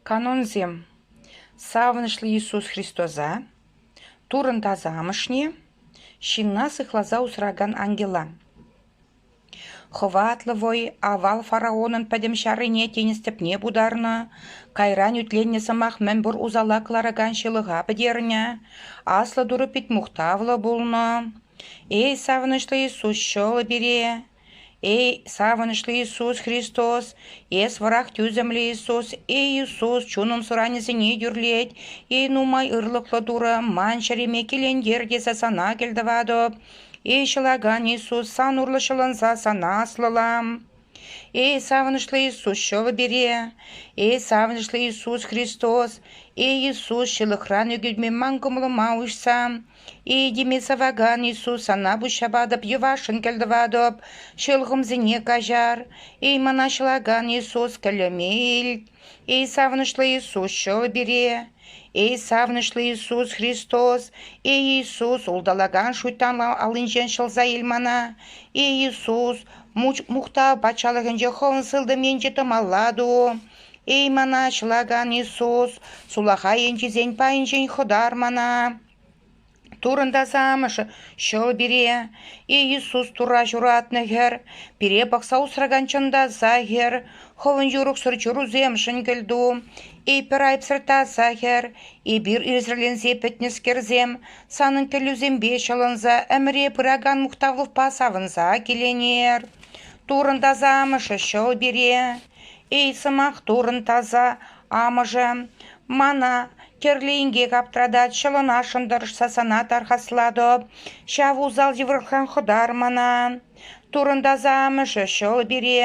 Канонсем савӑнӑҫлӑ Иисус Христоса, Туррӑн Тасамӑшне, ҫынна сыхласа усракан ангела. Хӑватлӑ вӑй авал фараонӑн пӗтӗм ҫаррине тинӗс тӗпне путарнӑ, кайран ӳтленнӗ сӑмах мӗнпур усала кӑларакан ҫылӑха пӗтернӗ, аслӑ Турӑ пит мухтавлӑ пулнӑ. Эй, савӑнӑҫлӑ Иисус ҫӑлӗ пире! Эй савӑнӑҫлӑ Иисус Христос, эс вӑрах тӳсӗмлӗ Иисус, эй Иисус, чунӑн суранӗсене тӳрлет, эй нумай ырлӑхлӑ Турӑ, ман чӗреме килентер тесе сана кӗлтӑватӑп, эй ҫӑлакан Иисус, сан урлӑ ҫӑлӑнса сана аслӑлам. Эй савӑнӑҫлӑ Иисус, ҫӑвӗ пире, эй савӑнӑҫлӑ Иисус Христос, эй Иисус, ҫылӑхран ӳкӗтме ман кӑмӑлӑма уҫса, Этеме сӑвакан Иисус сана пуҫҫапатӑп, йӑвашшӑн кӗлтӑватӑп, ҫӑлхӑмсене каҫар. Эй мӑнаҫлакан Иисус, кӗлӗме ил. Эй савӑнӑҫлӑ Иисус, ҫӑл пире. Эй савӑнӑҫлӑ Иисус Христос, Эй Иисус, улталакан шуйттан аллинчен ҫӑлса ил мана. Эй Иисус, мухтав патшалӑхӗнче хӑвӑн сылтӑм енче тӑмалла ту. Эй мана, ҫунакан Иисус, сулахай енчисен пайӗнчен хӑтар мана. Турӑнтас Амӑшӗ ҫӑл пире. Эй Иисус Турра ҫуратнӑ хӗр, пире пӑхса усракан чӑнта аса хӗр, хӑвӑн юрӑхсӑр чурусемшӗн кӗлту. Эй пӗр айӑпсӑр таса хӗр, эпир ирсӗрленсе пӗтнӗскерсем, санӑн тӗллевсемпе ҫӑлӑнса ӗмӗре пыракан мухтавлӑхпа савӑнса киленер. Турӑн таса Амӑшӗ ҫӑл пире. Эй, сӑмах турӑн, таса амӑшӗ, мана тӗрлӗ инкек аптратать, ҫӑлӑнасшӑн тӑрӑшса сана тархаслатӑп. Ҫав усал йывӑрлӑхран хӑтар мана. Турӑн таса амӑшӗ ҫӑл пире.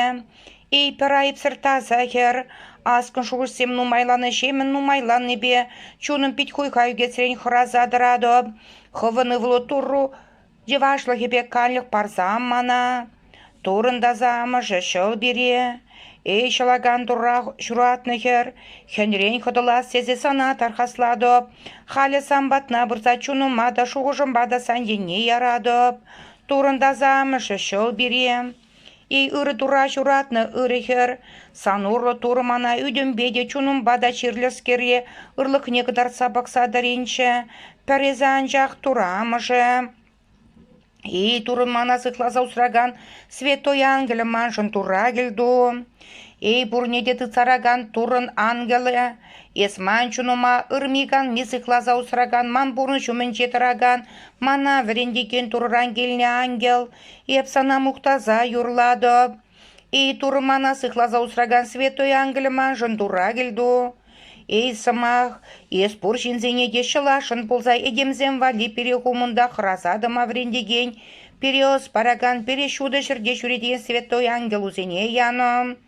Эй, пӗр айӑпсӑр таса хӗр, аскӑн шухӑшсем нумайланӑҫемӗн нумайланнипе чунӑм пит хуйха ӳкесрен хӑраса тӑратӑп. Хӑвӑн ывӑлу Турру Йӑвашлӑхӗпе каллех парсам мана. Турӑнтаса амӑшӗ ҫӑл пире, эй ҫӑлакан турра ҫуратнӑ хӗр, хӗнрен хӑтӑлас тесе сана тархаслатӑп. Халӗ сан патна пырса чунӑма та, шухӑшӑмпа та сан енне яратӑп. Турӑнтаса амӑшӗ ҫӑл пире. Ырӑ тура ҫуратнӑ ырӑ хӗр. Сан урлӑ Турӑ мана ӳтӗмпе те, чунӑмпа та чирлӗскере ырлӑхне кӑтартса пӑхса тӑринччӗ. Пӗр эсӗ анчах Турӑ амӑшӗ. И, Турӑн мана сыхласа усракан Святой Ангелӗ, маншӑн Турра кӗлту. Эй, пурне те тытсаракан Туррӑн Ангелӗ, эс ман чунӑма ырми-канми сыхласа усракан, ман пурнӑҫ умӗнче тӑракан, мана вӗрентекен Турӑран килнӗ Ангел, Эп сана мухтаса юрлатӑп. Эй, Турӑ мана сыхласа усракан святой ангелӗ маншӑн Турра кӗлту. Эй, сӑмах, эс пур ҫынсене те ҫӑласшӑн пулса этемсем валли пире хумӑнта хӑраса тӑма вӗрентекен, пире ӑс паракан пире ҫутӑ ҫӗрте ҫӳрекен святой ангелусене янӑ.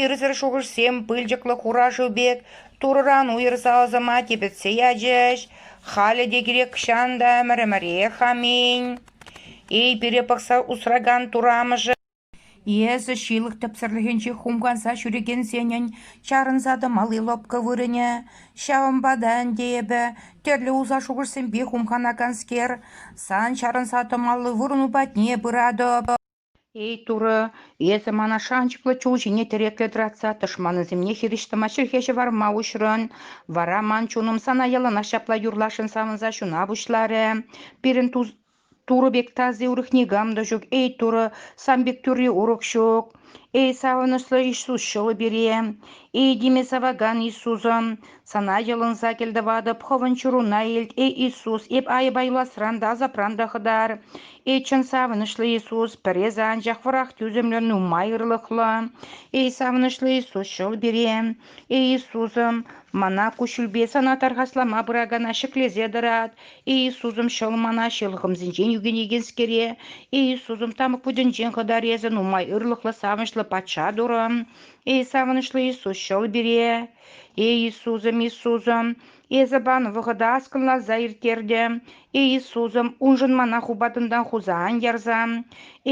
Ирсӗр шухӑшсем пылчӑклӑ хурашу пек Турӑран уйӑрса ӑсӑма типӗтсе ячӗҫ. Халӗ те кирек чан та ӗмӗр-ӗмӗрех аминь. Эй, пире пӑхса усракан турамӑшӑ! Эсӗ ҫылӑх тӗпсӗрлӗхӗнче хумханса ҫӳрекенсенӗн чарӑнса тӑмалли лӑпкӑ вырӑнӗ. Ҫавӑнпа та ӗнтӗ эпӗ тӗрлӗ уса шухӑшсемпе хумханаканскер, сан чарӑнса тӑмалли вырӑну патне пыратӑп. Эй, Турӑ, эсӗ мана шанчӑклӑ чул ҫине тӗреклӗ тӑратса тӑшманӗсемне хирӗҫ тӑма чӗлхе ҫӑварма уҫрӑн, вара ман чунӑм сана яланах ҫапла юрласшӑн савӑнса ҫуна пуҫларӗ. Пирӗн Турӑ пек тasi урӑх никам та ҫук. Эй, Турӑ, сан пек тӳрри урӑх ҫук. Эй, савӑнӑҫлӑ Иисус ҫӑлу пире! Эй, тиме савакан Иисусӑм, Сана йӑлӑнса кӗлтӑватӑп, хӑвӑн чуруна илт, эй Иисус, эп айӑпайласран та асапран та хӑтар. Эй чӑн савӑнӑҫлӑ Иисус, пӗресӗ анчах вӑрах тӳсӗмлӗ, нумай ырлӑхлӑ. Эй савӑнӑҫлӑ Иисус, ҫӑл пире. Эй Иисусӑм, мана куҫҫульпе сана тархаслама пыракана ҫӗклесе тӑрат. Эй Иисусӑм, ҫӑл мана ҫӑлхӑмсенчен ӳкӗнекенскере. Эй Иисусӑм, тамӑк путӗнчен хӑтар эсӗ, нумай ырлӑхлӑ, савӑнӑҫлӑ Патша Турӑ. Эй савӑнӑҫлӑ Иисус, ҫӑл пире. Эй Иисусӑм, Иисусӑм, эсӗ пан вӑхӑта аскӑнласа ирттертӗм. Эй Иисусӑм, уншӑн мана хупатӑнтан хуса ан ярса.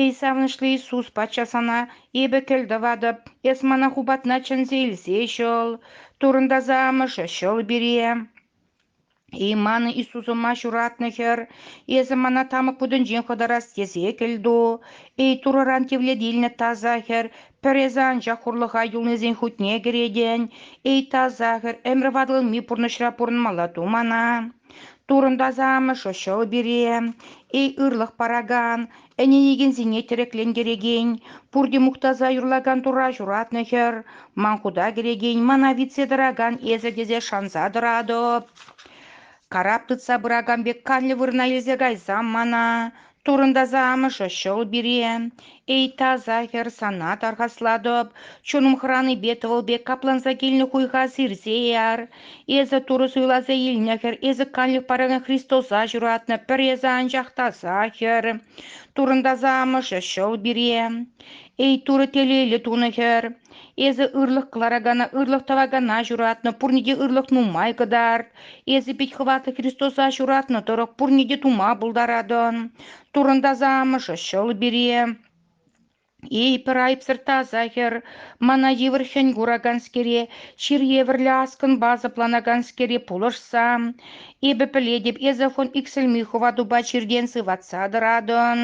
Эй савӑнӑҫлӑ Иисус, Патша сана эпӗ кӗл тӑватӑп, эс мана хупатна чӗнсе илсе ҫӑл, турӑнтаса амӑшӗ ҫӑл пире. И манӑн Иисусӑма ҫуратнӑ хӗр, эсӗ мана тамӑк путӗнчен хӑтарас тесе кӗлту. Эй, Турӑран тивлетилнӗ таса хӗр, пӗр эсӗ анчах хурлӑха юлнисен хутне кӗретӗн. Эй, таса хӗр, ӗмӗр ватӑлми пурнӑҫра пурӑнмалла ту мана. Турӑн таса Амӑшӗ ҫӑл пире. Эй, ырлӑх паракан, Ӗненекенсене тӗреклентерекен, пурте мухтаса юрлакан Турра ҫуратнӑ хӗр, ман хута кӗрекен, мана витсе тӑракан эсӗ тесе шанса тӑратӑп. Карап тытса пыракан пек канлӗ вырӑна илсе кайсам мана, турӑнтаса амӑшӗ ҫӑл пире. Эй, таса хӗр, сана тархаслатӑп, чунӑм хӑранипе тӑвӑл пек капланса килнӗ хуйха сирсе яр. Эсӗ Турӑ суйласа илнӗ хӗр, эсӗ канлӗх паракан Христоса ҫуратнӑ, пӗр эсӗ анчах таса хӗр, Туррӑн таса амӑшӗ ҫӑл пире. Эй Турӑ телейлӗ тунӑ хӗр, эсӗ ырлӑх кӑларакана, ырлӑх тӑвакана ҫуратнӑ, пурне те ырлӑх нумай кӑтарт. Эсӗ пит хӑватлӑ Христоса ҫуратнӑ тӑрӑх пурне те тума пултаратӑн. Туррӑн таса амӑшӗ ҫӑл пире. Эй, пӗр айӑпсӑр таса хӗр, мана йывӑр хӗн кураканскере, чир евӗрлӗ аскӑнпа сӑпланаканскере пулӑшса, эпӗ пӗлетӗп, эсӗ хун иксӗлми хӑватупа чиртен сыватса тӑратӑн.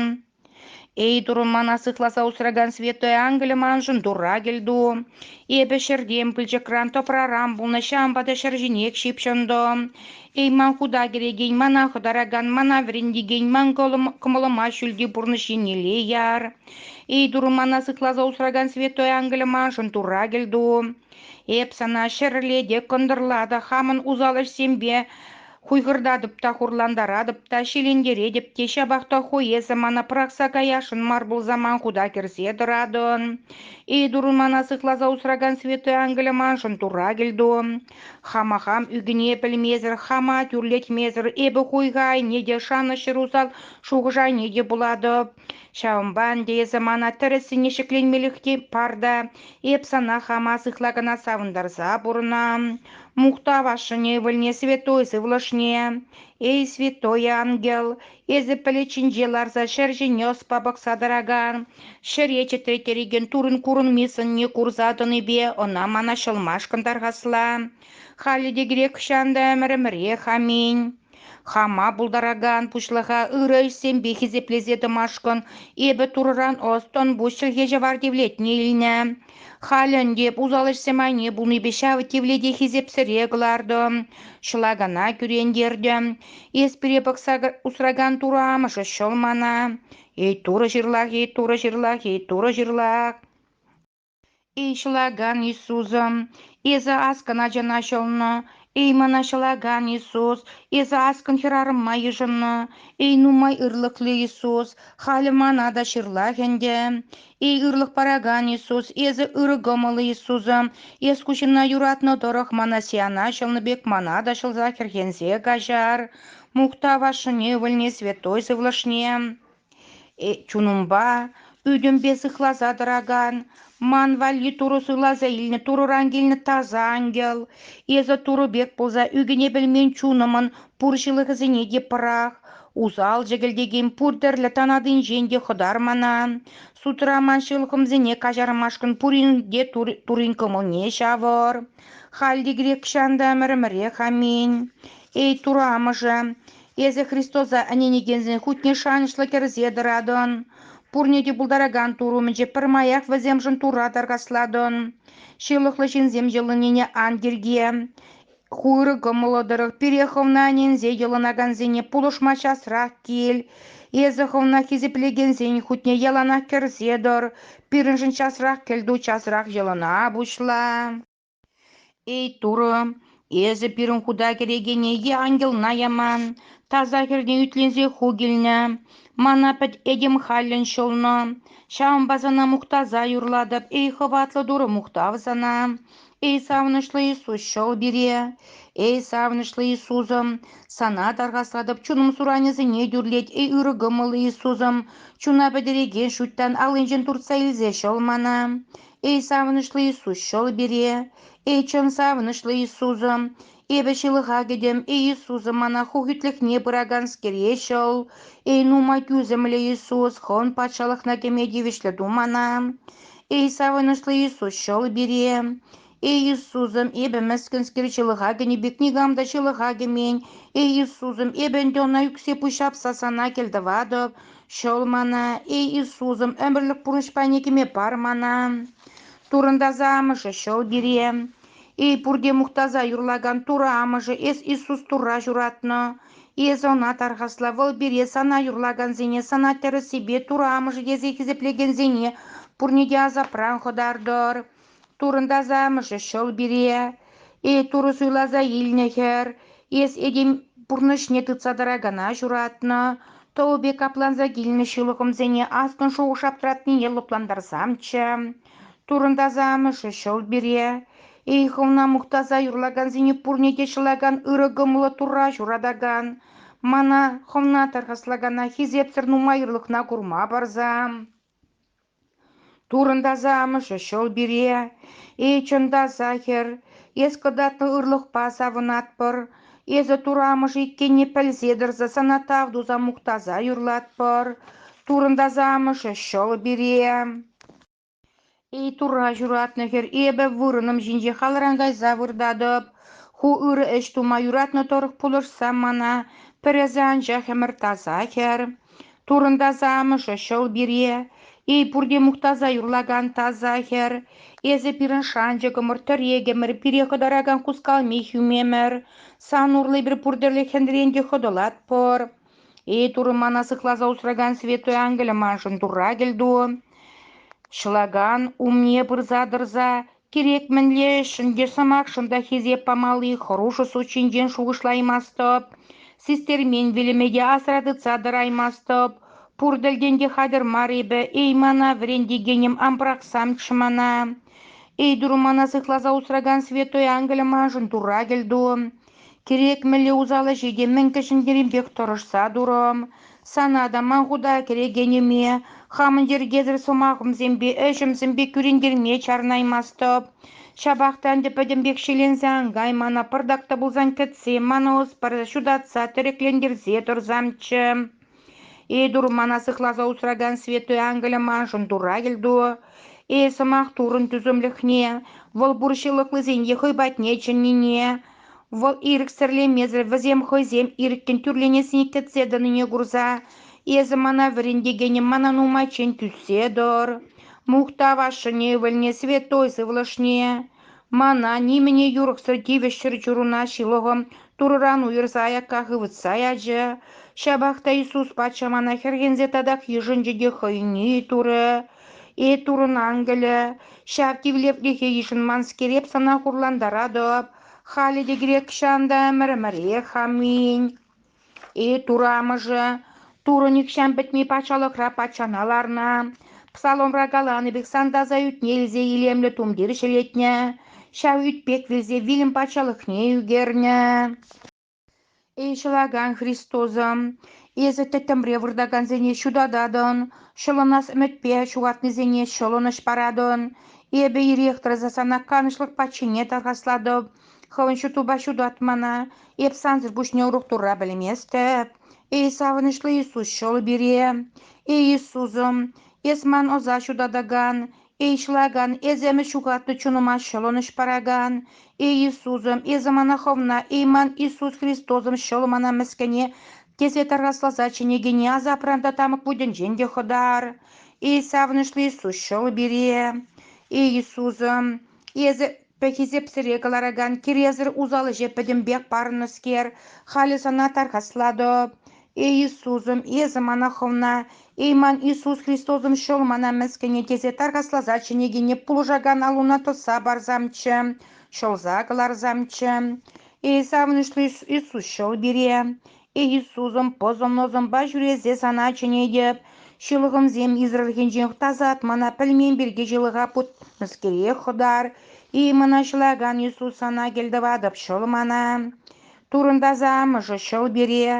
Эй, турӑ мана сыхласа усракан святой ангелӗ маншӑн тура кӗлту. Эпӗ ҫӗртен пылчӑкран тӑпраран пулнӑ ҫампа та ҫӗр ҫинех ҫыпҫӑнтӑм. Эй, ман хута кӗрекен, мана хӑтаракан, мана вӗрентекен, ман кӑмӑлӑма ҫӳлти пурнӑҫ еннелле яр. Эй, Турӑ мана сыхласа усракан святой ангелӗ маншӑн Турра кӗлту. Эп сана ҫӗрле те, кӑнтӑрла та, хамӑн усал ӗҫсемпе хуйхӑртатӑп та, хурлантаратӑп та, ҫилентеретӗп те, ҫапах та ху эсӗ мана пӑрахса каясшӑн мар пулса ман хута кӗрсе тӑратӑн. Эй, Турӑ мана сыхласа усракан святой ангелӗ маншӑн Турра кӗлту. Хама хам ӳкӗне пӗлмесӗр, хама тӳрлетмесӗр эпӗ хуйха айне те, шанӑҫ усал шухӑш айне те пулатӑп. Ҫавӑнпа ӗнтӗ эсӗ мана тӗрӗссине ҫӗкленмелӗх те пар та, эп сана хама сыхла кӑна савӑнтарса пурӑнам. Мухтав ашшӗне ывӑлне, святой сывлӑшне. Эй, святой ангел, Эсӗ пӗлӗчӗнче ларса ҫӗр ҫине ӑспа пӑхса тӑракан, ҫӗре чӗтретерекен турӑн курӑнми сӑнне курса тӑнипе ӑна мана ҫӑлмашкӑн тархасла. Халӗ те грекҫан та ӗмӗр-ӗмӗрех аминь. Хама пултаракан пуҫлӑха ырӑ ӗҫсемпе хисеплесе тӑмашкӑн эпӗ турӑран ӑс-тӑн пуҫ чӗлхе ҫӑвар тивлетне илнӗ. Халӗ ӗнтӗ усал ӗҫсем айне пулнипе ҫав тивлете хисепсӗре кӑлартӑм, ҫӑлакана кӳрентертӗм. Эс пире пӑхса усракан Турӑ амӑшӗ ҫӑл мана. Эй, Турӑ ҫырлах, эй, Турӑ ҫырлах, эй, Турӑ ҫырлах. Эй, ҫӑлакан Иисусӑм, эсӗ аскӑн ачана ҫӑлнӑ. Эй, мана ҫӑлакан Иисус, эсӗ аскӑн хӗрарӑма йышӑннӑ. Эй, нумай ырлӑхлӑ Иисус, халӗ мана та ҫырлах ӗнтӗ. Эй ырлӑх паракан Иисус, эсӗ ырӑ кӑмӑллӑ Иисусӑ, эс куҫӑмна юратнӑ тӑрӑх мана сиана ҫӑлнӑ пек мана та ҫӑлса хӗрхенсе каҫар, мухтав ашшӗне, ывӑлне, святой сывлӑшне. Э, чунӑмпа, ӳтӗмпе сыхласа тӑракан, ман валли Турӑ суйласа илнӗ Турӑран килнӗ таса ангел, эсӗ Турӑ пек пулса ӳкӗне пӗлмен чунӑмӑн пур ҫылӑхӗсене те пӑрах, Усал чӗкӗлтекен пур тӗрлӗ танатинчен те хӑтар мана. Судра ман ҫӑлхӑмсене каҫармашкӑн пурин те турин кӑмӑлне ҫавӑр. Халь те грекҫан та мӗрмӗрех аминь. Эй, Тура амӑшӗ, эсӗ Христоса ӗненекенсен хутне шанӑҫлӑ кӗрсе тӑратӑн. Пурне те пултаракан Тур умӗнче пӗрмаях вӗсемшӗн Тура таркаслатӑн. Ҫылӑхлӑ ҫынсем йӑлӑннине ан тирке. Хырӑ кӑмӑллӑ тӑрӑх пире хӑвна ӗненсе йӑлӑнакансене пулӑшма часрах кил. Эсӗ хӑвна хисеплекенсен хутне яланах кӗрсе тӑр. Пирӗншӗн часрах кӗлту часрах йӑлана пуҫла. Эй, Турӑ, эсӗ пирӗн хута кӗрекене е ангелна яман. Таса хӗрне ӳтленсе ху килнӗ. Мана пӗт этем халлӗн ҫӑлнӑ. Ҫавӑнпа сана мухтаса юрлатӑп, эй хӑватлӑ Турӑ мухтав сана. Эй савӑнӑҫлӑ Иисус, ҫӑл пире! Эй савӑнӑҫлӑ Иисусӑм, Сана тархаслатӑп, чунӑм суранӗсене тӳрлет. Эй ырӑ кӑмӑллӑ Иисусӑм, чуна пӗтерекен шуйттан аллинчен туртса илсе ҫӑл мана. Эй савӑнӑҫлӑ Иисус, ҫӑл пире! Эй чӑн савӑнӑҫлӑ Иисусӑм, Эпӗ ҫылӑха кӗтӗм. Иисусӑ мана ху хӳтлӗхне пыраканскере ҫӑл. Эй, нумай тӳсӗмлӗ Иисус, хӑн патшалӑхна кӗме тивӗҫлӗ ту мана. Эй, савӑнӑҫлӑ Иисус, ҫӑл пире. Эй, Иисусӑм, эпӗ мӗскӗнскер ҫылӑха кӗнӗ пек никам та ҫылӑха кӗмен. Эй, Иисусӑм, эпӗ ӗнтӗ ӑна ӳксе пуҫҫапса сана кӗлтӑватӑп. Ҫӑл мана. Эй, Иисусӑм, ӗмӗрлӗх пурнӑҫ пайне кӗме пар мана. Турӑнтаса амӑшӗ ҫӑл пире. Эй, пурте мухтаса юрлакан Турӑ Амӑшӗ, эс Иисус Турра ҫуратнӑ. Эсӗ ӑна тархасла, вӑл пире сана юрлакансене, сана тӗрӗссипе Турӑ Амӑшӗ тесе хисеплекенсене пурне те асапран хӑтартӑр. Турӑн Таса Амӑшӗ ҫӑл пире. Эй, Турӑ суйласа илнӗ хӗр, эс этем пурнӑҫне тытса тӑракана ҫуратнӑ. Тӑвӗпе капланса килнӗ ҫылӑхӑмсене аскӑн шухӑш аптратнине лӑплантарсамччӗ. Турӑнтаса амӑшӗ ҫӑл пире, эй хӑвна мухтаса юрлакансене пурне те ҫӑлакан ырӑ кӑмӑллӑ Турра ҫуратакан, мана хӑвна тархаслакана хисепсӗр нумайӑрлӑхна курма парса. Турӑнтаса амӑшӗ ҫӑл пире, эй чӑнта сахӗр, эс кӑтартнӑ ырлӑхпа савӑнатпӑр, Эсӗ Тур амӑшӗ иккенне пӗлсе тӑрса сана тав туса мухтаса юрлатпӑр. Турӑнтаса амӑшӗ ҫӑл пире. Эй Турра ҫуратнӑ хӗр, эпӗ вырӑнӑм ҫинче халран кайса выртатӑп. Ху ырӑ ӗҫ тума юратнӑ тӑрӑх пулӑшса мана, пӗр эсӗ анчах ӗмӗр таса хӗр. Турӑнтаса амӑшӗ ҫӑл пире, эй пурте мухтаса юрлакан таса хӗр, эсӗ пирӗн шанчӑкӑмӑр, тӗрекӗмӗр, пире хӑтаракан хускалми хӳмемӗр, сан урлӑ эпир пур тӗрлӗ хӗнрен те хӑтӑлатпӑр. Эй Турӑ, мана сыхласа усракан Святой Ангелӗ маншӑн Турра кӗлту. Ҫӑлакан умне пырса тӑрса Кирек мӗнле ӗҫшӗн те сӑмахшӑн та хисеп памалли хӑрушӑ суд ҫинчен шухӑшлаймастӑп, систермен вилӗме те асра тытса тӑраймастӑп. Пур тӗлтен те хатӗр мар эпӗ. Эй, мана вӗрентекенӗм, ан пӑрахсамччӗ мана. Эй, дуру мана сыхласа усракан святой ангелӗ маншӑн тура кӗлту. Кирек мӗнле усал ӗҫе те мӗн кӗҫӗн-керемпех тӑрӑшса турӑм. Сана та, ман хута кӗрекенӗме, хамӑн йӗркесӗр сӑмахӑмсемпе, ӗҫӗмсемпе кӳрентерме чарӑнаймастӑп. Ҫапах та ӗнтӗ пӗтӗмпех ҫӗленсе ан кай, мана пӑртак та пулсан кӗтсе, мана ӑс парса ҫутатса, тӗреклентерсе тӑрсамччӗ. Этур мана сыхласа усракан Святой Ангелӗ маншӑн Турра кӗлтуӑ. Эс сӑмах турӑн тӳсӗмлӗхне, вӑл пур ҫылӑхлисене хӑй патне чӗннине, вӑл ирӗксӗрлемесӗр вӗсем хӑйсем ирӗккӗн тӳрленессине кӗтсе тӑнине курса, эсӗ мана вӗрентекенӗм мана нумайччен тӳссе тӑр. Мухтав ашшӗн ывӑлне, святой сывлӑшне. Мана нимӗне юрӑхсӑр тивӗҫ чӗрчунуна ҫылӑхӑм Турӑран уйӑрса аякка хывӑтса ячӗ. Ҫапах та Иисус патша мана хӗрхенсе татах йышӑнчӗ те хӑйне турӗ. «Э Турӑн ангелӗ, ҫав тивлетлӗхе йышӑнманскер эп сана хурлантаратӑп, халӗ те кирек ҫан та ӗмӗр-ӗмӗрех. Аминь». Итур амӑшӗ Турӑ нихҫан пӗтми патшалӑхра патшана ларнӑ, псаломра каланӑ пек сантаса ӳтне илсе илемлӗ тумтир ҫӗлетнӗ, ҫав ӳт пек вилсе вилӗм патшалӑхне ӳкернӗ. Эй ҫӑлакан Христосӑм, эсӗ тӗттӗмре выртакансене ҫутататӑн, ҫӑлӑнас ӗмӗтпе ҫухатнисене ҫӑлӑнӑҫ паратӑн. Эпӗ ирех тӑрса сана канӑҫлӑх патшине тархаслатӑп, хӑвӑн ҫутупа ҫутат мана. Эп сансӑр пуҫне урух турра пӗлместӗп. Эй, савӑнӑҫлӑ Иисус, ҫол пире. Эй, Иисусӑм, эс ман ӑса ҫутатакан, Эй, ҫӑлакан, эс ӗмӗт ҫухатнӑ чунӑма ҫӑлӑнӑҫ паракан, Эй, Иисусӑм, эсӗ мана хӑвна, эй, ман Иисус Христосӑм ҫӑл мана мӗскӗне, тесе тархасласа чӗнекене асапран та тамӑк вутӗнчен те хӑтар. Эй, савӑнӑҫлӑ Иисус, ҫӑл пире. Эй, Иисусӑм, эсӗ Пӗххисепсӗре кӑларакан киресӗр усал ӗҫе пӗтӗмпех парӑннӑскер, халӗ сана тархаслатӑп. Эй Иисусӑм, эсӗ мана хӑвна, эй ман Иисус Христосӑм ҫӑл мана мӗскӗнӗ тесе тархасласа чӗнекене пулӑшакан аллуна тӑсса парсамччӗ, ҫӑлса кӑларсамччӗ. Эй савӑнӑҫлӑ Иисус ҫӑл пире! Иисусӑм пӑсӑм-нӑсӑмпа ҫӳресе сана чӗнетӗп, ҫылӑхӑмсем израильхенчен тасатмана пӗлмен пирки ҫылӑха путнӑскере хӑтар, и мӑнаҫлакан Иисус сана кӗлтӑватӑп ҫӑл мана. Турӑнтаса амӑшӗ ҫӑл пире,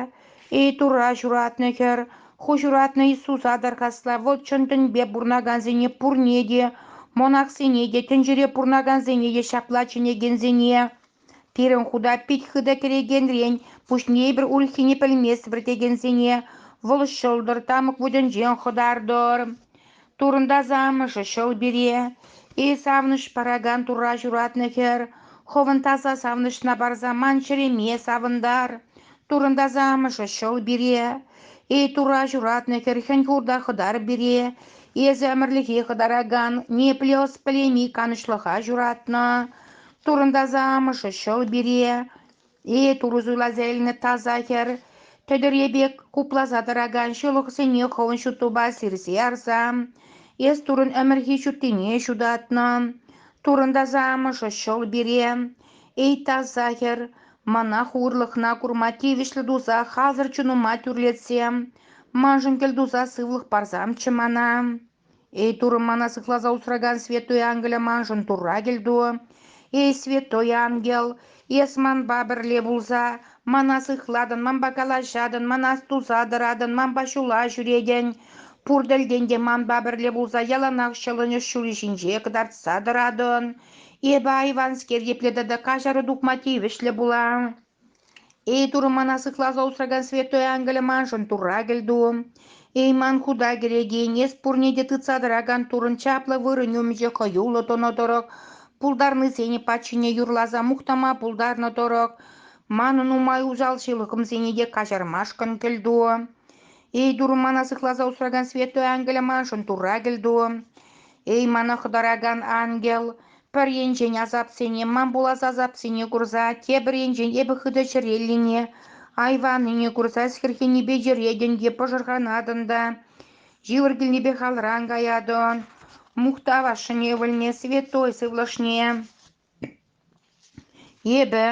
эй Турра ҫуратнӑ хӗр, ху ҫуратнӑ Иисуса тархасла вӑл чӑн тӗнпе пурӑнакансене пурне те, монахсене те, тӗнчере пурӑнакансене те ҫапла чӗнекенсене. Пирӗн хута пит хытӑ кӗрекенрен пуҫне эпир ульхине пӗлместпӗр текенсене вӑл ҫӑлтӑр тамӑк вутӗнчен хӑтартӑр. Турӑнтаса амӑшӗ ҫӑл пире. Эй савӑнӑҫ паракан Турра ҫуратнӑ хӗр, хӑвӑн таса савӑнӑҫна парса ман чӗреме савӑнтар. Турӑнтаса амӑшӗ ҫӑл пире. Эй Турра ҫуратнӑ хӗр хӗн хурта хӑтар пире. Эсӗ ӗмӗрлӗхе хӑтаракан, непле ӑс пӗлейми канӑҫлӑха ҫуратнӑ. Турӑнтаса амӑшӗ ҫӑл пире, «Э, турӑ суйласа илнӗ таса хӗр, тӗтӗрье пек хупласа тӑракан ҫылӑхсене хӑвӑн ҫуттупа сирсе ярса, эс турӑн ӗмӗрхи ҫуттине ҫутатнӑ. Турӑнтаса амӑшӗ ҫӑл пире, эй таса хӗр, мана хурлӑхна курма тивӗҫлӗ туса хасӑр чунӑма тӳрлетсе, маншӑн кӗлтуса сывлӑх парсамччӗ мана. Эй Турӑ мана сыхласа усракан Святой Ангеле маншӑн Турра кӗлту. Эй Святой Ангел, эс манпа пӗрле пулса мана сыхлатӑн, манпа калаҫатӑн, мана туса тӑратӑн, манпа ҫула ҫӳретӗн. Пур тӗлтен те манпа пӗрле пулса яланах ҫӑлӑнӑҫ ҫулӗ ҫинче кӑтартса тӑратӑн. Эпӗ айванскер епле тата каҫару тупма тивӗҫлӗ пулам. Эй Турӑ мана сыхласа усракан святой ангелӗ маншӑн Турра кӗлту! Эй ман хута кӗрекен эс пурне те тытса тӑракан Туррӑн чаплӑ вырӑнӗ умӗнче хӑюллӑ тӑнӑ тӑрӑх, пултарнисене патшине юрласа мухтама пултарнӑ тӑрӑх, манӑн нумай усал ҫылӑхӑмсене те каҫармашкӑн кӗлту! Эй Турӑ мана сыхласа усракан святой ангелӗ маншӑн Турра кӗлту! Эй, мана хӑтаракан ангел, пӗр енчен асапсене, ман пулас асапсене курса, тепӗр енчен эпӗ хытӑ чӗреллине, айваннине курса хӗрхенипе йӗретӗн те пӑшӑрханатӑн та йывӑр килнипех алран каятӑн, мухтав ашшӗне ывӑлне, святой сывлӑшне. Эпӗ,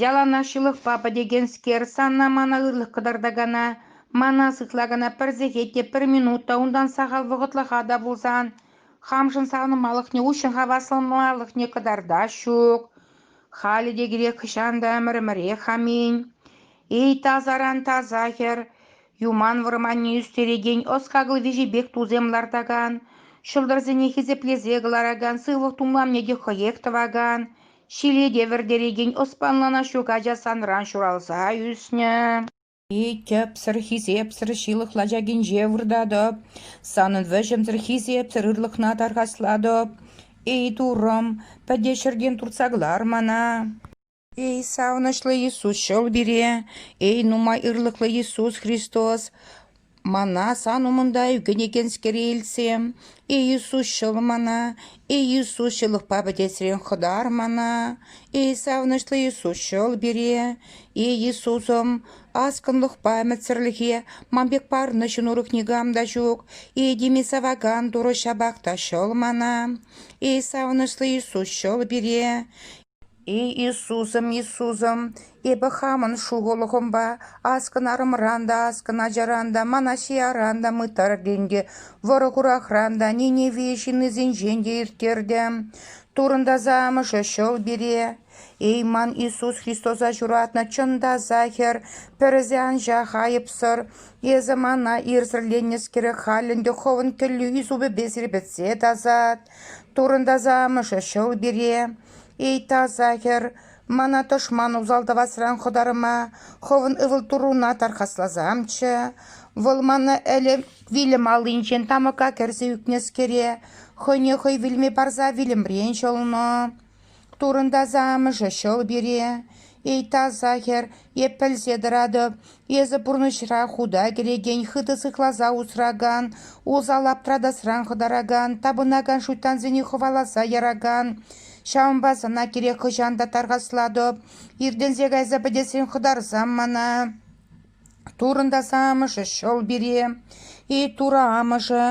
яланах ҫылӑхпа пӗтекенскер, санна мана ырлӑх кӑтартакана, мана сыхлакана пӗр сехет те, пӗр минут та, унтан сахал вӑхӑтлӑха та пулсан, хамшӑн савӑнмалӑхне, уҫҫӑн хавасланмалӑхне кӑтартас ҫук. Халӗ те кирек хӑҫан та ӗмӗр-ӗмӗрех аминь. Эй, таса ран таса хӗр, Юман вӑрманне ӳстерекен ӑс-хакӑл виҫӗпех тусем лартакан, ҫӑлтӑрсене хисеплесе кӑларакан сывлӑх тумламне те хӑех тӑвакан, ҫилете вӗртерекен ӑспанлана ҫук ача санран ҫуралса ӳснӗ. Эй, тӗпсӗр, хисепсӗр ҫылӑх лачакинче выртатӑп, санӑн вӗҫӗмсӗр хисепсӗр ырлӑхна тархаслатӑп. Эй, туррӑм, пӗтӗ ҫӗртен туртса кӑлар мана. Эй, савӑнӑҫлӑ Иисус, ҫӑл пире! Эй, нумай ырлӑхлӑ Иисус Христос! Мана сан умӑнта ӳкӗнекенскере илсе, Эй, Иисус, ҫӑл мана! Эй, Иисус, ҫылӑхпа пӗтесрен хӑтар мана! Эй, савӑнӑҫлӑ Иисус, ҫӑл пире! Эй, Иисусӑм, аскӑнлӑхпа ӗмӗтсӗрлӗхе ман пек парнӑ ҫын урӑх никам та ҫук. Эй, тими савакан Турӑ ҫапах та ҫӑл мана! Эй, савӑнӑҫлӑ Иисус, ҫӑл пире! Эй Иисусӑм, Иисусӑм, эпӗ хамӑн шухӑлӑхӑмпа ас кӑнарӑмран та, ас кӑначаран та, мана ҫияран та мыттартӑм те, вӑрӑ-хурахран та, Ниневе ҫыннисенчен те ирттертӗм. Турӑнтаса амӑшӗ ҫӑл пире. Эй ман Иисус Христоса ҫуратнӑ чӑн та Сахӗр, пӗрӗсе анчах айӑпсӑр, эсӗ мана ирсӗрленнӗскере халь ӗнтӗ хӑвӑн кӗллӳ супӗпе сирпӗтсе тасат. Турӑнтаса амӑшӗ ҫӑл пире: «Эй, таса хӗр, мана тӑшман усал тӑвасран хӑтарма хӑвӑн ывӑл-туруна тархасласамччӗ. Вӑл мана ӗлӗк вилӗм аллинчен тамӑка кӗрсе ӳкнӗскере хӑйне хӑй вилме парса вилӗмрен ҫӑлнӑ. Турӑнтаса амӑшӗ ҫӑл пире: «Эй, таса хӗр, эп пӗлсе тӑратӑп, эсӗ пурнӑҫра худа кӗрекен, хытӑ сыхласа усракан, усал аптратасран хӑтаракан, тапӑнакан шуйттансене хӑваласа яракан. Ҫавӑнпа сана кирек хӑҫан та тархаслатӑп, иртӗнсе кайса пӗтесрен хӑтарсам мана». Турӑнтас амӑшӗ ҫӑл пире, и Турӑ амӑшӗ,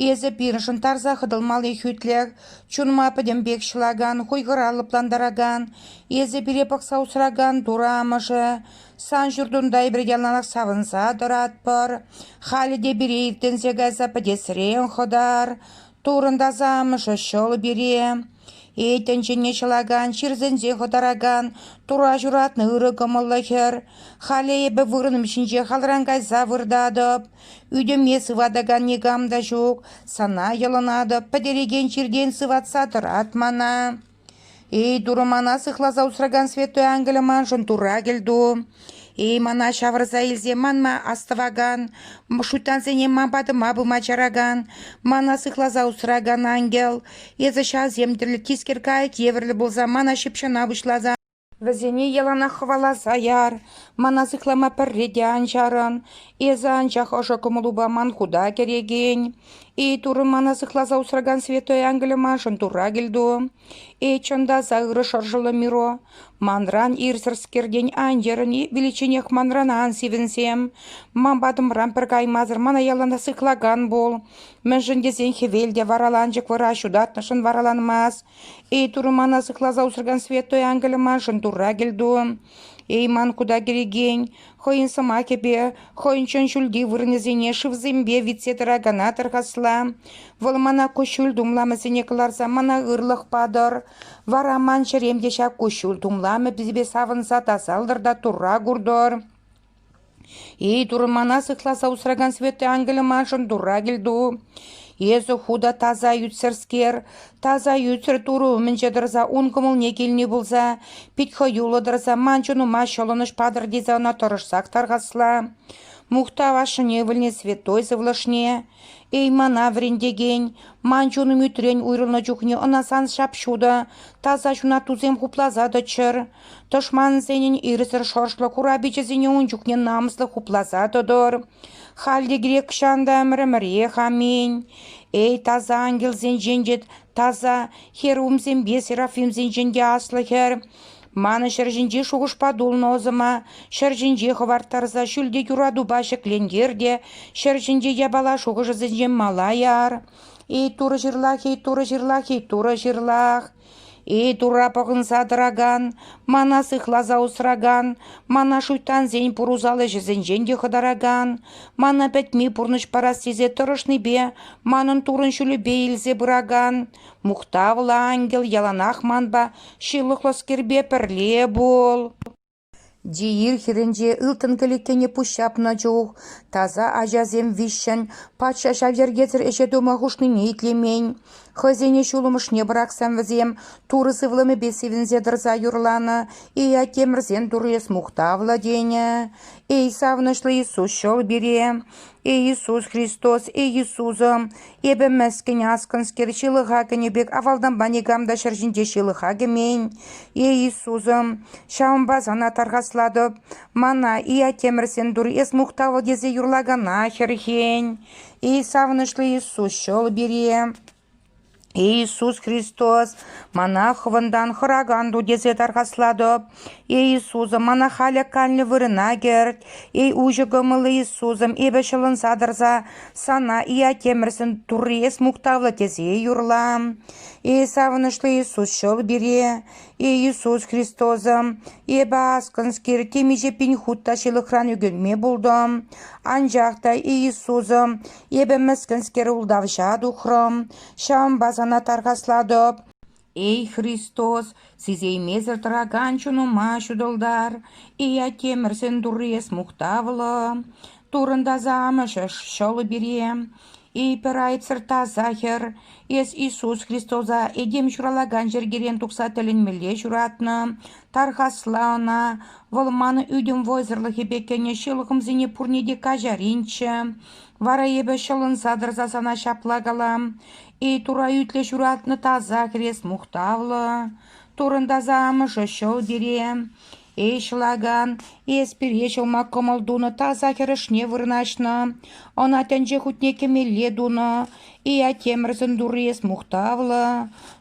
эсӗ пирӗншӗн тарса хӑтӑлмалли хӳтлӗх, чунма пӗтӗм пек ҫӑлакан, хуйхӑра лӑплантаракан, эсӗ пире пӑхса усракан Турӑ амӑшӗ, сан ҫуртунта эпир яланах савӑнса тӑратпӑр, халӗ те пире иртӗнсе кайса пӗтесрен хӑтар, Турӑнтас амӑшӗ ҫӑл пире. Эй, тӗнчене ҫӑлакан, ҫирсенсе хӑтаракан, тура ҫуратнӑ ырӑ кӑмӑллӑ хӗр, халӗ эпӗ вырӑнӑм ҫинче халран кайса выртатӑп. Ӳтӗме сыватакан никам та ҫук, сана йӑлӑнатӑп, пӗтерекен чиртен сыватса тӑрат мана. Эй, Турӑ, мана сыхласа усракан святой ангелӗ маншӑн тура кӗлту. Эй, мана ҫавӑрса илсе манма астӑвакан, шуйттансене ман патӑма пыма чаракан, мана сыхласа усракан ангел, эсӗ ҫавсем тӗллӗ тискер кайӑк евӗрлӗ пулса мана ҫыпҫӑна пуҫласа... Вӗсене яланах хӑваласа яр, мана сыхлама пӗрре те ан чарӑн, эсӗ анчах ӑшӑ кӑмӑлупа ман хута кӗрекен. Эй, Турӑ, мана сыхласа усракан святой ангелӗ маншӑн Турра кӗлту. Э, чӑн та сахӑрӑ шӑршӑллӑ Миро, манран ирсӗрскертен ан йӗрӗн-и виличченех манран ан сивӗнсем. Ман патӑмран пӗр каймасӑр мана яланах сыхлакан пул. Мӗншӗн тесен хӗвел те вараланчӑк вара ҫутатнӑшӑн вараланмас. Эй, Турӑ мана сыхласа усракан святой ангелӗ маншӑн Турра кӗлту. Эй, ман кута кӗрекен, хӑйӗн сӑмахӗпе хӑйӗн чун ҫӳлти вырӑнӗсене шывсемпе витсе тӑракана тӑрхасла. Вӑл мана куҫҫуль тумламӗсене кӑларса мана ырлӑх патӑр. Вара ман чӗрем те ҫак куҫҫуль тумламӗпе савӑнса тасалтӑр та турра куртӑр. Эй, Турӑ, мана сыхласа усракан Святой Ангелӗ маншӑн Турра кӗлту. Эсӗ ху та таса ӳтсӗрскер, Таса ӳтсӗр турӑ умӗнче тӑрса ун кӑмӑлне килни пулса, пит хӑюллӑ тӑрса ман чунӑма ҫӑлӑнӑҫ патӑр тесе ӑна тӑрӑшсах тархасла. Мухтав ашшӗне ывӑлне святой сывлӑшне, эй мана вӗрентекен, ман чунӑм ӳтрен уйрӑлнӑ чухне ӑна сан ҫап-ҫутӑ, таса ҫунаттусем хупласа тӑччӑр, Тӑшмансенӗн ирсӗр шӑршлӑ курапичӗсене ун чухне намӑслӑ хупласа тӑтӑр. Халь те грек ҫантӑмрӗмӗрех, аминь. Эй, таса ангелсенчен те таса, херувимсемпе серафимсенчен те аслӑ хӗр! Манӑн ҫӗр ҫинчи шухӑшпа тулнӑ ӑсӑма ҫӗр ҫинче хӑварттарса ҫӳлте юратупа ҫӗклентер те ҫӗр ҫинче япала шухӑшӗсенчен мала яр. Эй, турӑ ҫырлах, эй, турӑ ҫырлах, эй, турӑ ҫырлах! Эй, Турра пӑхӑнса тӑракан, мана сыхласа усракан, мана шуйттансен пурусал ӗҫӗсенчен те хӑтаракан, мана пӗтми пурнӑҫ парас тесе тӑрӑшнипе манӑн Туррӑн ҫулӗпе илсе пыракан мухтавлӑ ангел яланах манпа ҫылӑхлӑскерпе пӗрле пул. Диир хирӗнче ылтӑн кӗлеткене пуҫ ҫапнӑ чух таса ачасем виҫҫӗн патша ҫав йӗркесӗр ӗҫе тума хушнине итлемен, хӑйсене ҫулӑмӑшне пӑрахсан вӗсем Турӑ сывлӑмӗпе сивӗнсе тӑрса юрланӑ «Иаттемӗрсен Турӑ эс мухтавлӑ!» тенӗ. «Эй, савӑнӑҫлӑ Иисус, ҫӑл пире! Иисус Христос, Иисусӑм, эпӗ мӗскӗн аскӑнскер ҫылӑха кӗнӗ пек авалтанпа никам та ҫӗр ҫинче ҫылӑха кӗмен. Иисусӑм, ҫавӑнпа сана тархаслатӑп, мана Иотемӗрсен тур эс мухтавӑл тесе юрлакана хӗрхен. Эй савӑнӑҫлӑ Иисус, ҫӑл пире! Иисус Христос мана хӑвӑнтан хӑракан ту тесе тархаслатӑп. Эй Иисусӑм, мана халӗ калнӗ вырӑна кӗрт. Эй уҫӑ кӑмӑллӑ Иисусӑм, эпӗ ҫӑлӑнса тӑрса Сана Иотемӗрсен Турри эс мухтавлӑ тесе юрла. Эй савӑнӑҫлӑ Иисус, ҫӑл пире. Эй Иисус Христосӑм, эпӗ аскӑнскер темиҫе пин хут та ҫылӑхран ӳкӗнме пултӑм. Анчах та, Иисусӑм, Эпӗ мӗскӗнскер ултавҫа тухрӑм, ҫавӑнпа сана тархаслатӑп. Эй, Христос, сисеймесӗр тӑракан чунӑма ҫутӑлтар, Ия Темӗрсен Турри эс мухтавлӑ, Туррӑн таса Амӑшӗш ҫӑлӗ пире. Эй, пӗр айтсӑр таса хӗр, эс Иисус Христоса этем ҫуралакан йӗркерен тухса тӗлӗнмелле ҫуратнӑ. Тархасла ӑна, вӑл манӑн ӳтӗм вӑйсӑрлӑхӗпе кӗнӗ ҫылӑхӑмсене пурне те каҫаринччӗ. Вара эпӗ ҫӑлӑнса тӑрса сана ҫапла калам: эй тура ӳтлӗ ҫуратнӑ таса хрест мухтавлӑ, турӑнтаса амӑшӗ ҫӑл пире. Эй ҫӑлакан, эс пире ҫӑлма кӑмӑл тунӑ таса хӗрӗшне вырнаҫнӑ, ӑна тӗнче хутне кӗмелле тунӑ, Иатемӗрсӗн турри эс мухтавлӑ,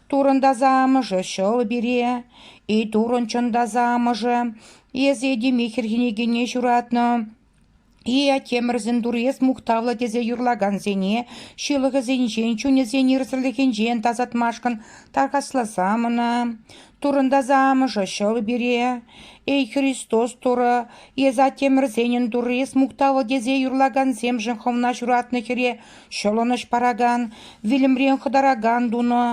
турӑнтаса амӑшӗ ҫӑл пире. Эй турӑн чӑн таса амӑшӗ, эс этеме хӗрхенекене ҫуратнӑ, Ийя Темӗрсен Турьес мухтавлӑ тесе юрлакансене ҫылӑхӗсенчен, чунӗсен ирсӗрлӗхӗнчен тасатмашкӑн тархасласам ӑна. Турӑнтаса амӑшӗ ҫӑл пире. Эй Христос Турӑ, эс Аттемӗрсенӗн Туррис мухтавлӑ тесе юрлакансемшӗн хӑвна ҫуратнӑ хӗре ҫӑлӑнӑҫ паракан, вилӗмрен хӑтаракан тунӑ,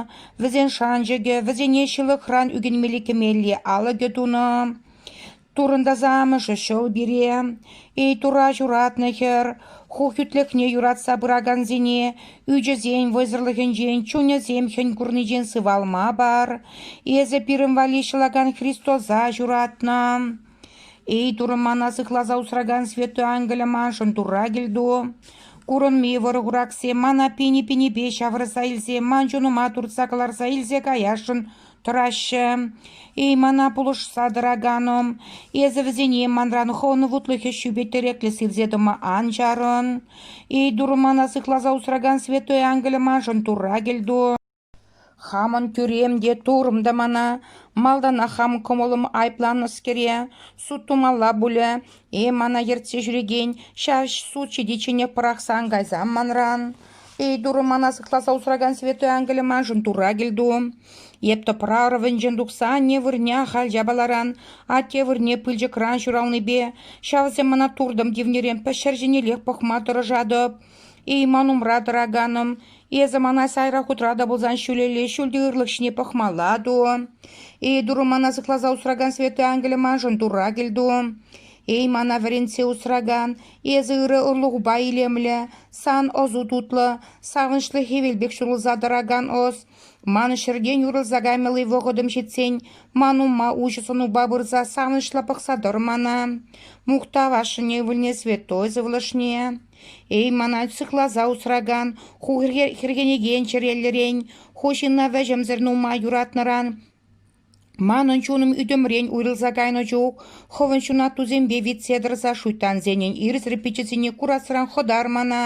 вӗсен шанчӑкӗ, вӗсене ҫылӑхран ӳкӗнмелли кӗмелли алӑкӗ тунӑ. Турӑнтаса амӑшӗ ҫӑл пире, эй Тура ҫуратнӑ хӗр, ху хӳтлӗхне юратса пыракансене ӳчӗсен вӑйсӑрлӑхӗнчен, чунӗсем хӗн курнинчен сывалма пар. Эсӗ пирӗн валли ҫӑлакан Христоса ҫуратнӑ. Эй Турӑ мана сыхласа усракан Святой Ангеле маншӑн Турра кӗлту. Курӑнми вӑрӑ-хурахсем мана пини-пинипе ҫавӑрса илсе, ман чунӑма туртса кӑларса илсе каясшӑн тӑраҫҫӗ. Эй, мана пулӑшса тӑраканӑм, эсӗ вӗсене манран хӑвӑн вутлӑхӗ ҫӳпе тӗреклӗ сирсе тӑма ан чарӑн. Эй, Турӑ мана сыхласа усракан святой ангелӗ маншӑн Турра кӗлту. Хамӑн тӳрем те, турӑм та мана малтанах хам кӑмӑлӑм айӑпланнӑскере суд тумалла пулӗ. Э, мана ертсе ҫӳрекен ҫав суд ҫитичченех пӑрахсан кайсам манран. Эй, Турӑ, мана сыхласа усракан святой ангелӗ маншӑн Турра кӗлту. Эп тӑпрарӑвӗнчен тухса анне вырӑнне ахаль япаларан, атте вырӑнне пылчӑкран ҫуралнипе, ҫавсем мана туртӑм тивнӗрен пӗҫҫӗр ҫинеллех пӑхма тӑрӑшатӑп. Эй, ман умра тӑраканӑм, эсӗ мана сайра хутра та пулсан ҫӳлелле ҫӳлти ырлӑх ҫине пӑхмалла ту. Эй, Турӑ, мана сыхласа усракан святой ангелӗ маншӑн Турра кӗлту. Эй, мана вӗрентсе усракан, Эсӗ ырӑ ырлӑхупа илемлӗ, сан ӑсу тутлӑ, савӑнӑҫлӑ хӗвел пек ҫурӑлса тӑракан ӑс. Ман ҫӗртен уйрӑлса каймалли вӑхӑтӑм ҫитсен ман умма уҫӑ сӑнупа пырса савӑнӑҫлӑ пӑхса тӑр мана. Мухтав ашшӗне ывӑлне святой сывлӑшне. Эй, мана сыхласа усракан, ху хӗрхенекен чӗреллӗрен, ху ҫынна вӗҫӗмсӗр нумай юратнӑран, Манӑн чунӑм ӳтӗмрен уйрӑлса кайнӑ чух хӑвӑн ҫунаттусемпе витсе тӑрса шуйттансенӗн ирсӗр пиччӗсене курасран хӑтар мана.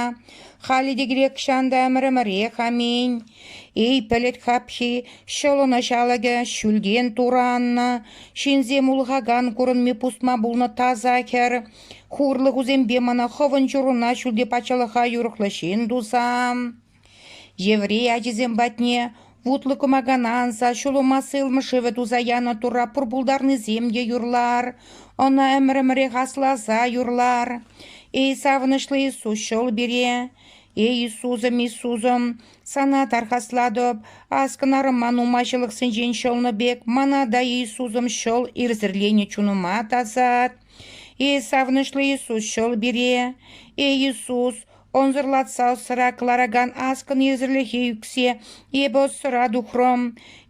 Халӗ те кирек ҫан та ӗмӗр-ӗмӗрех, аминь. Эй, пӗлӗт хапхи, ҫӑлӑн ӑҫалӑкӗ, ҫӳлтен тураннӑ, ҫынсем улӑхакан курӑнми пусма пулнӑ таса хӗр, хурлӑхусемпе мана хӑвӑн чуруна ҫӳлти патшалӑха юрӑхлӑ ҫын туса. Еврей ачисем патне вутлӑ кӑмакана анса ҫулӑма сылмӑ шывӗ туса янӑ турра пур пултарнисем те юрлар, ӑна ӗмӗр-ӗмӗрех асласа юрлар. Эй савӑнӑҫлӑ Иисус ҫул пире! Эй Иисусӑм, Иисусӑм, Сана тархаслатӑп, аскӑнарӑма нумайҫылӑхсенчен ҫӑлнӑ пек Мана та, Иисусӑм, ҫӑл ирсӗрленӗ чунӑма тасат. Эй савӑнӑҫлӑ Иисус ҫӑл пире! Эй Иисус, Ӑнсӑрлатса ӑсра кӑларакан аскӑн йӗсӗрлӗхе ӳксе эпӗ ӑссӑра тухрӑм.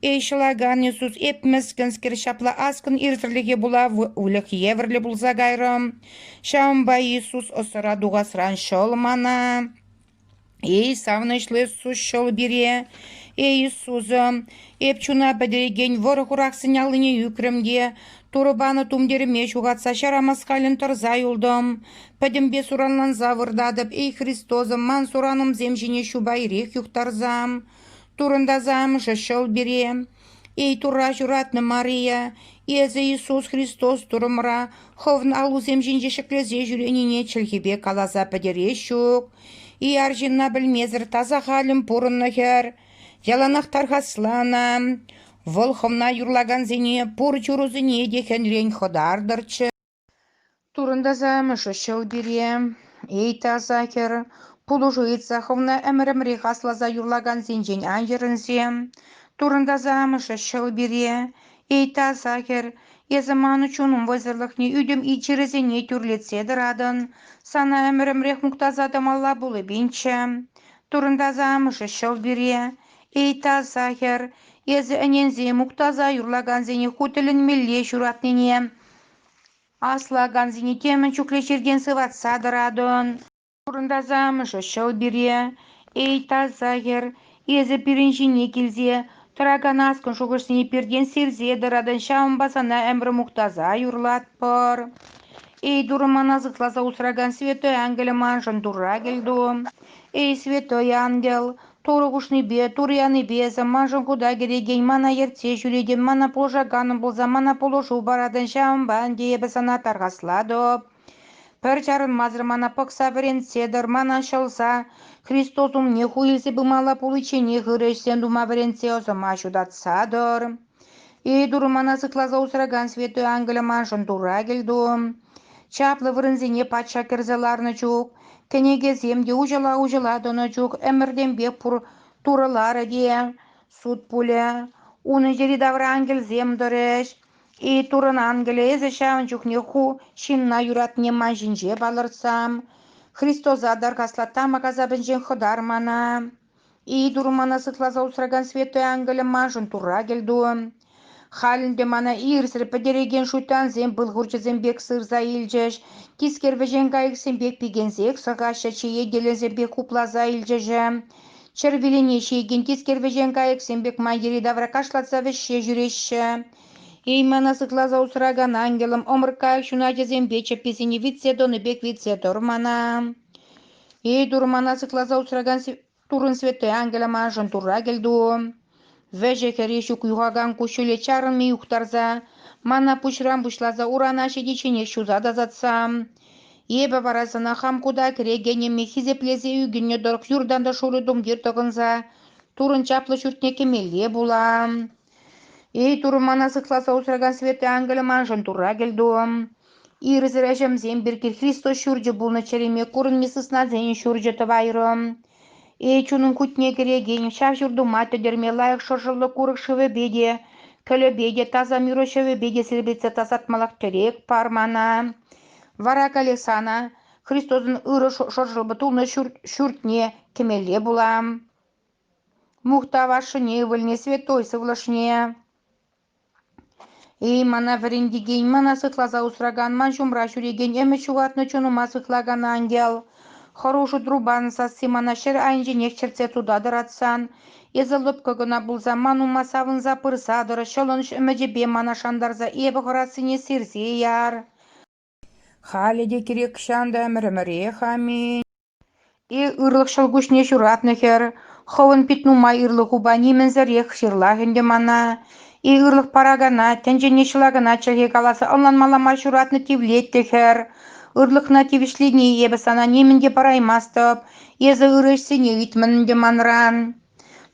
Эй, ҫӑлакан Иисус, эп мӗскӗнскер ҫапла аскӑн ирсӗрлӗхе пула выльӑх евӗрлӗ пулса кайрӑм. Ҫавӑнпа Иисус ӑссӑра тухасран ҫӑл мана. Эй, савӑнӑҫлӑ Иисус, ҫӑл пире. Эй, Иисусӑм, эп чуна пӗтерекен вӑрӑ хурахсен аллине ӳкрӗм те Турӑ панӑ тумтирӗме ҫухатса ҫара маскалӗн тӑрса юлтӑм. Пӗтӗмпе суранланса выртатӑп, эй Христосӑм, ман суранӑмсем ҫине ҫупа ирех юхтарса. Турӑнтаса амӑшӗ ҫӑл пире. Эй Турра ҫуратнӑ Мария, эсӗ Иисус Христос Турӑмӑра хӑвӑн аллусем ҫинче ҫӗклесе ҫӳренине чӗлхепе каласа пӗтерес ҫук. И арҫынна пӗлмесӗр таса халӗн пурӑннӑ хӗр, Яланах тархасланӑ, вӑл хӑвна юрлакансене пур чурусене те хӗнрен хӑтартӑрччӗ. Турӑнтаса амӑшӗччӗ вӑл пире. Эй, таса хӗр, пулӑшу ыйтса хӑвна ӗмӗр-ӗмӗрех асласа юрлакансенчен ан йӗрӗнсе. Турӑнтаса амӑшӗччӗ вӑл пире. Эй, таса хӗр, эсӗ манӑн чунӑм вӑйсӑрлӑхне ӳтӗм ит-чӗресене тӳрлетсе тӑратӑн. Сана ӗмӗр-ӗмӗрех мухтаса тӑмалла пулӑпинччӗ. Турӑнтаса амӑшӗ ҫӑв пире: «Эй, таса хӗр, эсӗ ӗненсе мухтаса юрлакансене ху тӗлӗнмелле ҫуратнине, аслакансене темӗн чухлӗ чиртен сыватса тӑратӑн. Турӑнтаса амӑшӗ ҫӑв пире: «Эй, таса хӗр, эсӗ пирӗн ҫине килсе Тӑракан аскӑн шухӑшне пиртен сирсе тӑратӑн, ҫавӑнпа сана ӗмӗр мухтаса юрлатпӑр. Эй, Турӑ мана сыхласа усракан святой ангелӗ, маншӑн Турра кӗлту. Эй, святой ангел, Турӑ хушнипе, Турӑ янипе эсӗ маншӑн хута кӗретен мана ертсе ҫӳретӗн, мана пулӑшаканӑм пулса мана пулӑшу паратӑн, ҫавӑнпа ӗнтӗ эпӗ сана тархаслатӑп. Пӗр чарӑнмасӑр мана пӑхса вӗрентсе, тӑрмана ҫӑлса, Христос умне ху илсе пымалла пуличченех ырӑ ӗҫсем тума вӗрентсе ӑсӑма ҫутатса тӑр. Эй Турӑ мана сыхласа усракан Святой Ангелӗ маншӑн Турра кӗлту. Чаплӑ вырӑнсене патша кӗрсе ларнӑ чух, кӗнекесем те уҫӑла-уҫӑла тӑнӑ чух ӗмӗртенпех пур турӑларӗ те, суд пулӗ. Унӑн йӗри-тавра ангелсем тӑрӗҫ. И турӑн ангелӗ ҫавӑн чухне ху ҫынна юратни ман ҫинче палӑртсам, Христоса таркасла тамӑк асапӗнчен хӑтар мана. И тур мана сыхласа усракан святой ангелӗ маншӑн турра кӗлту. Халь ӗнтӗ мана ирсӗр пӗтерекен шуйттансем пыл хурчӗсем пек сырса илчӗҫ, тискер вӗҫен кайӑксем пек пикенсех сӑхаҫҫӗ, чееделесем пек хупласа илчӗҫӗ. Чӗр вилене ҫиекен тискер вӗҫен кайӑксем пек ман йӗри-тавра кашлатса вӗҫсе ҫӳреҫҫӗ. Эймана сыхласа усракан ангелӑм ӑмӑрткайӑк ҫуначӗсемпе чӗпписене витсе тӑнӑ пек витсе тӑр мана. Эй, турмана сыхласа усракан Туррӑн Святой Ангелӗ маншӑн Турра кӗлту. Вӗҫӗ-хӗрри ҫук юхакан куҫҫуле чарӑнми юхтарса, мана пуҫран пуҫласа урана ҫитичченех ҫуса тасатса. Эпӗ вара сана хам кута кӗрекенӗме хисеплесе ӳкӗннӗ тӑрӑх юртан та шурӑ тумтир тӑкӑнса Туррӑн чаплӑ ҫуртне кӗмелле пулам. Эй, Турӑ мана сыхласа усракан Святый Ангелӗ маншӑн Турра кӗлту-ӑм! Ирсӗр ӗҫӗмсем пирки Христос ҫурчӗ пулнӑ чӗреме курӑнми сыснасен ҫурчӗ тӑвайрӑм. Эй, чунӑм кутне кӗрекен, ҫав ҫуртума тӗтӗрме лайӑх шӑршӑллӑ курӑк шывӗпе те, кӗлӗпе те, таса мюро ҫӑвӗпе те сирпӗтсе тасатмаллах тӗрек пар мана. Вара колесана, Христосӑн ырӑ шӑршӑллӑ тулнӑ ҫурт, ҫуртне кӗмелле пулам. Мухтав ашшӗне ывӑлне святой сывлӑшне. Эй, мана вӗрентекен, мана сыхласа усракан, ман ҫумра ҫӳрекен ӗмӗт ҫухатнӑ чунӑма сыхлакан ангел, хӑрушӑ трубан сасси мана ҫӗр айӗнченех чӗртсе тутатӑр атсан, эсӗ лӑпкӑ кӑна пулсан ман ума савӑнса пырса тӑр, ҫӑлӑнӑҫ ӗмӗчӗпе мана шантарса эпӗ хӑрассине сирсе яр. Халӗ те кирек-ҫан та ӗмӗр-ӗмӗрех-аминь. Е ырлӑх ҫӑлкуҫне ҫуратнӑ хӗр, хӑвӑн пит нумай ырлӑх упа нимӗнсӗрех ҫырлах ӗнтӗ мана. Е ырлӑх паракана, тӗнчене ҫӑла кӑна чӗлхе каласа ӑнланмалла мар ҫуратнӑ тивлет те хӗр. Ырлӑхна тивӗҫлени эпӗ сана нимӗн те параймастӑп. Эсӗ ырӑ ӗҫсене ыйтмӑн ӗнтӗ манран.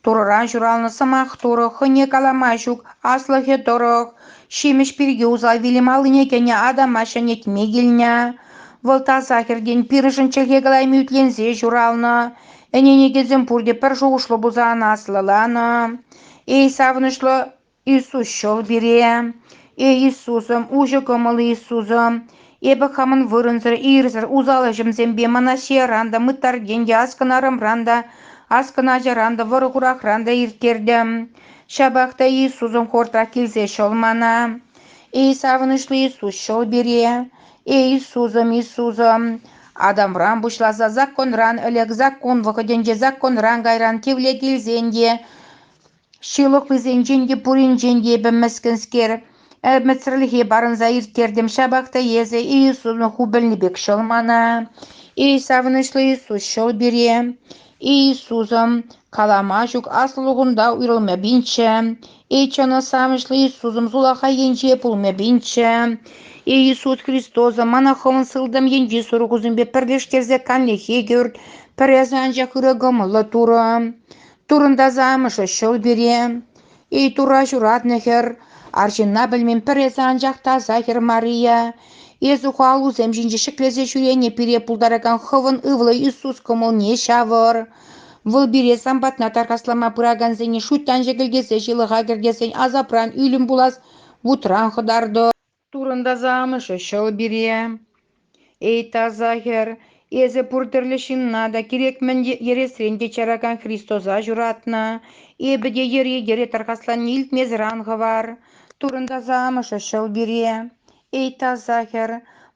Турӑран ҫуралнӑ сӑмах турӑ хӑйне калама ҫук аслӑхӗ тӑрӑх ҫимӗҫ пирки усал вилӗм аллине кӗнӗ адама ҫӗнетме килнӗ. Вӑл таса хӗртен пирӗншӗн чӗлхе калайми ӳтленсе ҫуралнӑ. Ӗне-никӗсем пурте пӗр шухӑшлӑ пулса ӑна аслӑланӑ. Эй савӑнӑҫлӑ Иисус ҫӑл пире, Э Иисусӑм, уҫӑ кӑмӑл Иисусӑм, эпӗ хамӑн вырӑнсӑр, ирсӗр, усал ӗҫӗмсемпе мана ҫияран та, мыттартен те, аскӑн арӑмран та, аскӑн ачаран та, вӑрӑ-хурахран та ирттертӗм. Ҫапах та Иисусӑм хортах килсе ҫӑл мана. Эй савӑнӑҫлӑ Иисус ҫӑл пире, Эй Иисусӑм, Иисусӑм, Адамран пуҫласа законран ӗлӗк, закон вӑхӑтӗнче законран кайран кивле килсен те Ҫылӑхлисенчен те пуринчен те эпӗ мӗскӗнскер, ӗмӗтсӗрлӗхе парӑнса ирттертӗм, ҫапах та эсӗ Иисусӑн хупӑлни пек ҫӑл мана. Эй савӑнӑҫлӑ Иисус, ҫӑл пире. Иисусӑм, калама ҫук аслӑлӑхунта уйрӑлма пинчче. Эй чӑн савӑнӑҫлӑ Иисусӑм, сулахай енче пулма пинчче. Эй Иисус Христосӑм, мана хӑвӑн сылтӑм енчи сурӑхусемпе пӗрлештерсе канлӗхе кӳрт, пӗр эсӗ анчах ырӑ кӑмӑллӑ Турӑ. Турӑнтаса амӑшӗ ҫӑл пире, эй Тура ҫуратнӑ хӗр, арҫынна пӗлмен пӗр эсӗ анчах та сахӗр Мария, эс ухалусем ҫинче ҫӗклесе ҫӳренӗ пире пултаракан хӑвӑн ывӑлӑ Иисус кӑмӑлне ҫавӑр. Вӑл пире сан патна тархаслама пыракансене шуйттан ҫекӗлтесе ҫылӑха кӗртесен асапран ӳлӗм пулас вутран хӑтартӑр. Турӑнтаса амӑшӗ ҫӑл пире: «Эй, таса хӗр, эсӗ пур тӗрлӗ ҫынна та, кирек мӗн йӗресрен те чаракан Христоса ҫуратнӑ. Эпӗ те йӗре-йӗре тархасланни илтмесӗр ан хӑвар. Турӑнтаса амӑшӗ ҫӑл пире: «Эй, таса хӗр,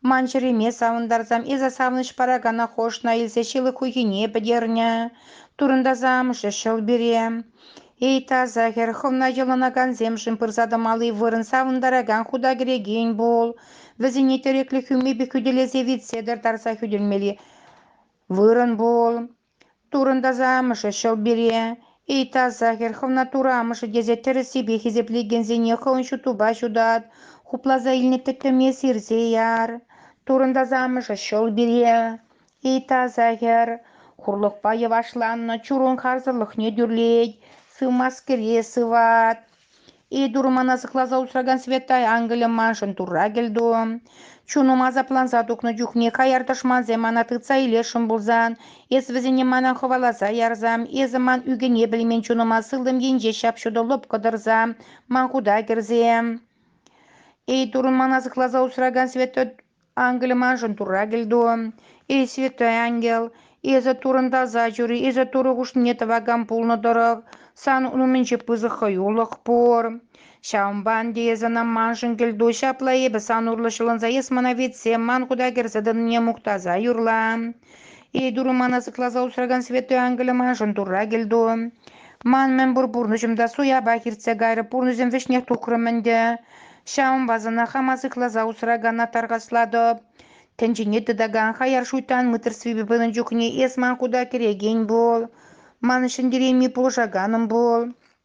ман чӗреме савӑнтарсам эсӗ савӑнӑҫ паракана хошна илсе ҫылӑх хуйхине пӗтернӗ. Турӑнтаса амӑшӗ ҫӑл пире: Эй, таса хӗр, хӑвна йӑлӑнакансемшӗн пырса тӑмалли вырӑн савӑнтаракан хута кӗрекен пул. Вӗсене тӗреклӗ хӳмепе хӳтӗлесе витсетӗр тарса хӳтӗлмелли вырӑн пул. Турӑнтаса амӑшӗ ҫӑл пире. Эй, таса хӗр, хӑвна Турӑ амӑшӗ тесе тӗрӗссипе хисеплекенсене хӑйӗн ҫутупа ҫутат, хупласа илнӗ тӗттӗме сирсе яр. Турӑнтаса амӑшӗ ҫӑл пире. Ыйтаса хӗр хурлӑхпа йӑвашланнӑ чурун харсӑрлӑхне тӳрлет, сывмаскере сыват. Итур мана сыхласа усракан Светай ангелӗ маншӑн турра кӗлту. Чунум асапланса тухнӑ чухне хаяр тӑшмансем мана тытса илесшӗн пулсан, эс вӗсене мана хӑваласа ярсам, эсӗ ман ӳкӗне пӗлмен чунӑма сылтӑм енче ҫап-ҫутӑ лӑпкӑ тӑрса ман хута кӗрсе. Итурн мана сыхласа усракан Святой Ангелӗ маншӑн Турра кӗлту. Эй, Святой Ангел, эсӗ турӑнтаса чури, эсӗ Турӑ хушнине тӑвакан пулнӑ тӑрӑх, сан ун умӗнче пысӑк хӑюлӑх пур. Ҫавӑнпа ӗнтӗ эсӗ ӑна маншӑн кӗлту, ҫапла эпӗ сан урлӑ ҫӑлӑнса эс мана витсе ман хута кӗрсе тӑнине мухтаса юрла. Эй, Турӑ, ман асапласа усракан святой ангелӗ маншӑн Турра кӗлту. Ман мӗнпур пурнӑҫӑм та суяпах иртсе кайрӗ, пурнӑҫӑм вӗҫнех тухрӑм ӗнтӗ. Ҫавӑнпа сана хама сыхласа усракана тархаслатӑп. Тӗнчене тытакан хаяр шуйттан мыттӑрсвипе пынӑ чухне эс ман хута кӗрекен пул, ман ҫӗнтерейми пулӑшаканӑм пул.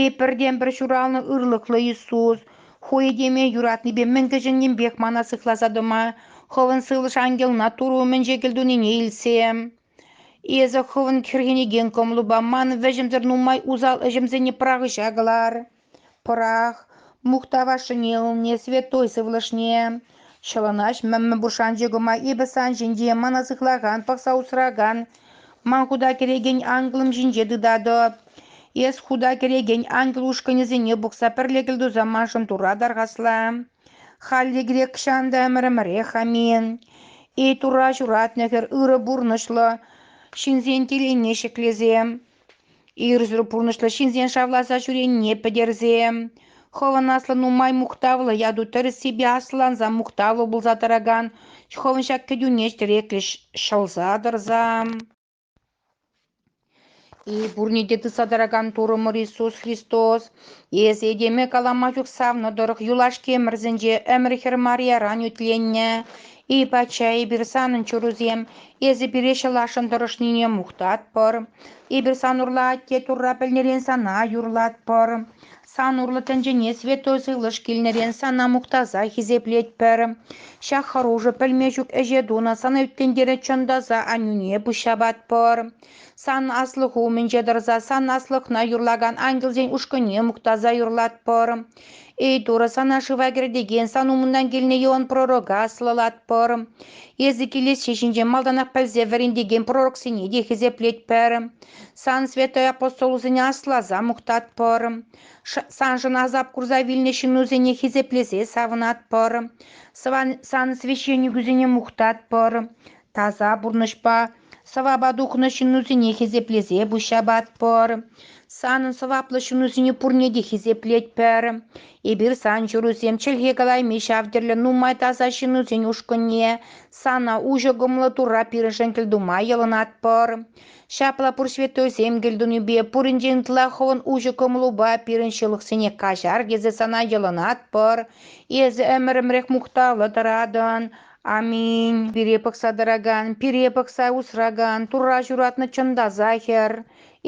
Е пӗртен-пӗр ҫуралнӑ ырлӑхлӑ Иисус ху этеме юратнипе мӗн кӗҫӗннинпех мана сыхласа тӑма, хӑвӑн сывлӑш ангелна Турӑ умӗнче кӗлтунине илтсе. Эсӗ хӑвӑн хӗрхенекен кӑмӑлупа ман вӗҫӗмсӗр нумай усал ӗҫӗмсене пӑрахӑҫа кӑлар. Пӑрах, мухтавашшӑне ылне, святой сывлӑшне. Ҫӑлӑнаҫ мӗммӗ пушанчӑкӑма эпӗ сан ҫинче мана сыхлакан, пӑхса усракан, Ман хута кӗрекен ангелӑм ҫинче тытатӑп. Эс хута кӗрекен ангел ушкӑнӗсене пухса пӗрле кӗлтуса маншӑн Турра тархасла. Халле грек ҫан та ӗмӗрӗмӗрех амин. Эй Турра ҫуратнӑ хӗр, ырӑ пурнӑҫлӑ ҫынсен телейне ҫӗклесе, Ирсӗр пурнӑҫлӑ ҫынсен шавласа ҫӳренине пӗтерсе хӑвӑн аслӑ нумай мухтавлӑ яту тӗрӗссипе аслӑланса мухтавлӑ пулса тӑракан хӑвӑн ҫак кӗтӳне тӗреклӗ ҫӑлса тӑрса и пурне те тытса тӑракан Турӑмӑр Иисус Христос, эс этеме калама чух савнӑ тӑрӑх юлашки ӗмӗрсенче ӗмӗр хӗр Марьяран ӳтленнӗ Эй, пачча, эпир санӑн чурусем, эсӗ пире ҫӑласшӑн тӑрӑшнине мухтатпӑр. Эпир сан урлӑ атте Турра пӗлнӗрен сана юрлатпӑр. Сан урлӑ тӗнчене святой сывлӑш килнӗрен сана мухтаса хисеплетпӗр. Ҫак хӑрушӑ пӗлме ҫук ӗҫе тунӑ сана ӳтлентере чӑнтаса аннӳне пуҫҫапатпӑр. Сан аслӑху умӗнче тӑрса сан аслӑхна юрлакан ангелсен ушкӑнне мухтаса юрлатпӑр. Эйтура сана шыва кӗртекен сан умунтан килнӗ Иоанн пророка аслӑлатпӑр. Эсӗ килессе ҫинчен малтанах пӗлсе вӗрентекен пророксене те хисеплетпӗр. Сан святой апостолусене асласа мухтатпӑр. Саншӑн асап курса вилнӗ ҫыннусене хисеплесе савӑнатпӑр. Сан священникусене мухтатпӑр. Таса пурнӑҫпа сӑвапа тухнӑ ҫыннусене хисеплесе пуҫ ҫапатпӑр. Санӑн сӑваплӑ ҫынусене пурне те хисеплетпӗр. Эпир сан ҫырусем чӗлхе калайми ҫав тӗрлӗ нумай таса ҫынусен ушкӑнне, сана уҫӑ кӑмӑллӑ Турра пирӗншӗн кӗлтума йӑлӑнатпӑр. Ҫапла пур святойсем кӗлтунипе пуринчен ытла хӑвӑн уҫӑ кӑмӑлупа пирӗн ҫылӑхсене каҫар тесе сана йӑлӑнатпӑр. Эсӗ ӗмӗрӗмрех мухтавлӑ тӑратӑн. Аминь. Пире пӑхса тӑракан, пире пӑхса усракан, Турра ҫуратнӑ чӑнтаса хӗр,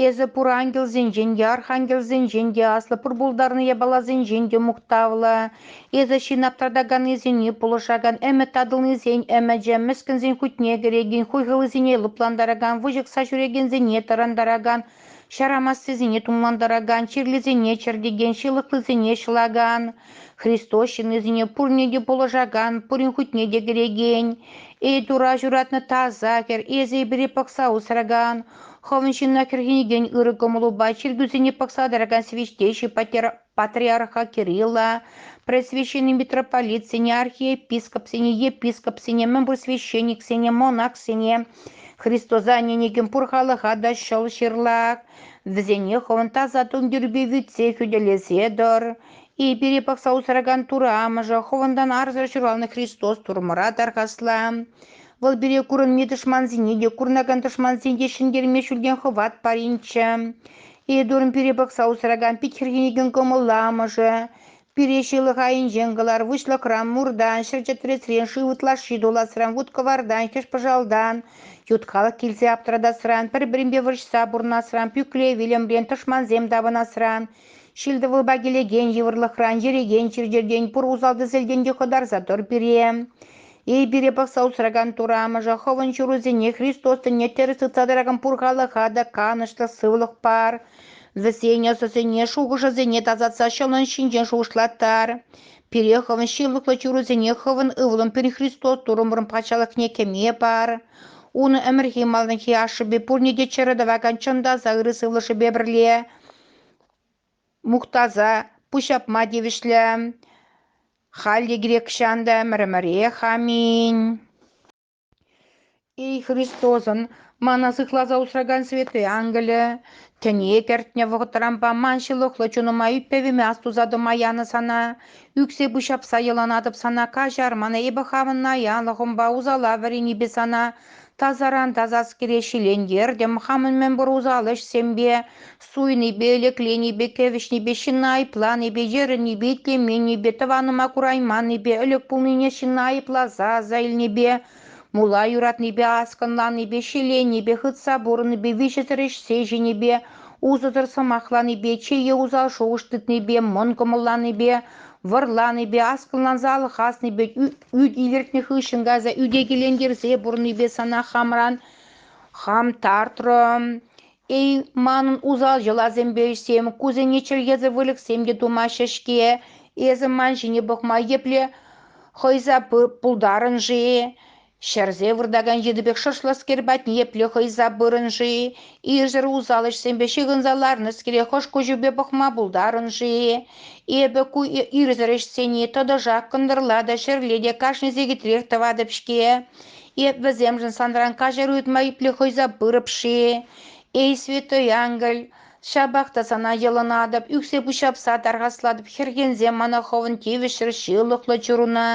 эсӗ пур ангелсенчен те, архангелсенчен те, аслӑ пур пултарнӑ япаласенчен те мухтавлӑ. Эсӗ ҫын аптратаканнисене пулӑшакан ӗмӗт татӑлнисен ӗмӗчӗ, мӗскӗнсен хутне кӗрекен хуйхӑллисене лӑплантаракан, выҫӑхса ҫӳрекенсене тӑрантаракан ҫар амассисене тумлантаракан, чирлисене чӗртекен, ҫылӑхлисене ҫӑлакан, Христос ҫыннисене пурне те пулӑшакан, пурин хутне те кӗрекен, Эйтура ҫуратнӑ таса хӗр эсӗ эпире пӑхса усракан, хӑвӑн ҫынна хӗрхенекен ырӑ кӑмӑлупа чиркӳсене пӑхса тӑракан священщик патер патриарха Кирилла, пресвященни митрополитсене, архиепископсене, епископсене, мӗнпур священниксене, монахсене, Христоса ӗненекен пур халӑха та ҫӑл ҫырлак, вӗсене хӑвӑн таса тумтирпе витсе хӳтӗлесе тӑр. И пире пӑхса усракан Тур амӑшӗ, хӑвӑнтан арсӑр ҫуралнӑ Христос Турмӑра тархасла. Вӑл пире курӑнми тӑшмансене те, курӑнакан тӑшмансене те ҫӗнтерме ҫӳлтен хӑват паринччӗ. Эдурн пире пӑхса усракан пит хӗрхенекен кӑмӑллӑ амӑшӗ. Пире ҫылӑх айӗнчен кӑлар, выҫлӑхран, муртан, ҫӗр чӗтресрен, шыв ытлашши туласран, вут-кӑвартан, хӗҫ-пӑшалтан, ют халӑх килсе аптӑратасран, пӗр-пӗринпе вӑрҫса пурӑнасран, пӳкле вилӗмрен тӑшмансем тапӑнасран, ҫил-тӑвӑлпа килекен йывӑрлӑхран, ерекен чир-чӗртен, пур усал-тӗселтен те хӑтарса тӑр пире. Эй пире пӑхса усракан Турӑ Амӑшӗ, хӑвӑн ҫырусене Христос тӗнне тӗрӗс тытса тӑракан пур халӑха та канӑҫлӑ сывлӑх пар, вӗсен ӑсӗсене, шухӑшӗсене тасатса ҫӑлӑн ҫинчен шухӑшлаттар. Пире хӑвӑн ҫылӑхлӑ ҫырусене хӑвӑн Ывӑлӑн пирӗн Христос Турӑмӑрӑн Патшалӑхне кӗме пар. Ун ӗмӗрхи малтанхи ашшӗпе пурне те чӗрӗ тӑвакан чӑн таса ырӑ сывлӑшӗпе пӗрле мухтаса пуҫҫапма тивӗҫлӗ. Халь те грекҫан та ӗмӗр-ӗмӗрех аминь. Эй Христосӑн мана сыхласа усракан Свети Ангелӗ, тӗне кӗртнӗ вӑхӑтранпа ман ҫылӑхлӑ чунӑма ӳппевӗме астуса тӑма янӑ сана, ӳксе пуҫҫапса йӑланатӑп сана, каҫар мана эпӗ хамӑн наянлӑхӑмпа усала вӗренипе сана, Тасаран тасаскере ҫилентертӗм, хамӑн мӗнпур усал ӗҫсемпе, суйнипе, лекленипе, кӗвӗҫнипе, ҫынна айӑпланипе, йӗрӗнипе, итлеменнипе, тӑванӑма курайманнипе, ӗлӗк пулнине ҫынна айӑпласа аса илнипе, мула юратнипе, аскӑнланнипе, ҫиленнипе, хытса пурӑннипе, виҫесӗр ӗҫсе ҫинипе, усӑсӑр сӑмахланипе, чее усал шухӑш тытнипе, мӑн кӑмӑлланипе, вӑрланипе, аскӑланса алхаснипе, ӳт илӗртнӗ хыҫҫӑн кайса ӳтекелентерсе пурӑннипе сана хамран хам тартрӑм. Эй, манӑн усал йӑласемпе ӗҫсем, кусене чӗркесе выльӑхсем те тумаҫҫӗ-ҫке. Эсӗ ман ҫине пӑхма епле хӑйса пултарӑн-ши? Ҫӗрсе выртакан йытӑ пек шӑршлӑскер патне епле хӑйса пырӑн-ши? Ирсӗр усал ӗҫсемпе ҫыхӑнса ларнӑскере хӑш куҫӗпе пӑхма пултарӑн-ши? Эпӗ ку ирсӗр ӗҫсене тӑтӑшах кӑнтӑрла та ҫӗрле те кашни сехетрех тӑватӑп-ҫке. Эп вӗсемшӗн санран каҫар ыйтма епле хӑйса пырӑп-ши? Эй, святой ангел, ҫапах та сана йӑлӑнатӑп, ӳксе пуҫҫапса тархаслатӑп, хӗрхенсе мана хӑвӑн тивӗҫсӗр ҫылӑхлӑ чуруна.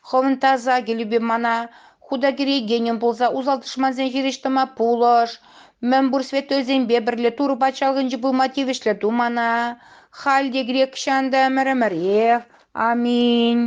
Хӑвӑн таса кӗлӳпе мана хута кӗрекенӗм пулса усал тӑшмансен хирӗҫ тӑма пулӑш. Мӗнпур святойсемпе пӗрле Турӑ Патшалӑхӗнче пулма тивӗҫлӗ ту мана. Халь те грек ҫанта ӗмӗр-ӗмӗрех. Аминь.